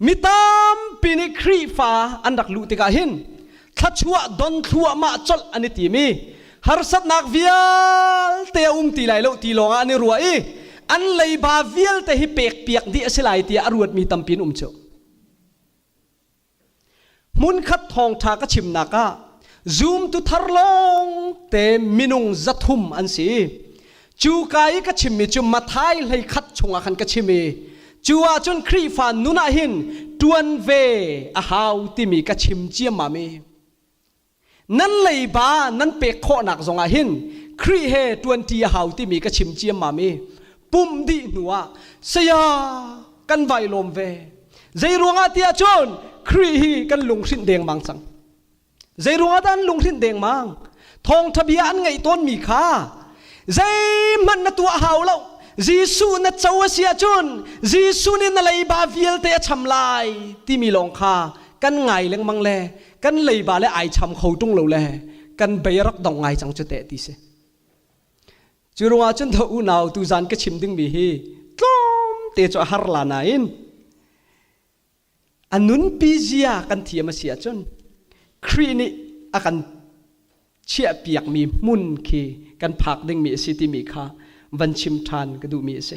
Mi tampi nih Khrihfa an rak luh tikah hin thluachuah don thluahmah colh an i tim i harsatnak vialte a um ti lai lo ti lawngah an i ruah i an leiba vialte hi pek piak dih a si lai tiah a ruatmi tampi an um cu. hmunkhat thawngṭha ka chimnak ah zumtu thar lawng te minung zathum an si cu ka i ka chimmi cu mathai hlei khat chungah khan ka chim i cu ahcun Khrihfa nun ah hin ṭuan ve a hau timi ka chim ciammam i nan leiba nan pek khawhnak zongah hin Khrih he ṭuanṭi a hau timi ka chim ciammam i pumh dih hnuah saya kan vai lawm ve zei ruangah tiah cun Khrih hi kan lunghrinh dengmang cang zei ruangah dah an lunghrinh dengmang thawngṭha bia an ngaih tawnmi kha zeihmanh na tuah hau lo Jesuh na co a si ahcun Jesuh nih na leiba vialte a cham lai timi lawng kha kan ngai lengmang le kan leiba le ai cham kho tung lo le kan bei rak dong ngai cang cu te ti si cu ruangah cun tho unau tu zan ka chim dingmi hi tlawm te cu har la na in a nunpi zia kan thiam a si ahcun Khrih nih a kan chiah piakmi hmun khi kan phak dingmi a si timi kha van chim ṭhan ka duhmi a si.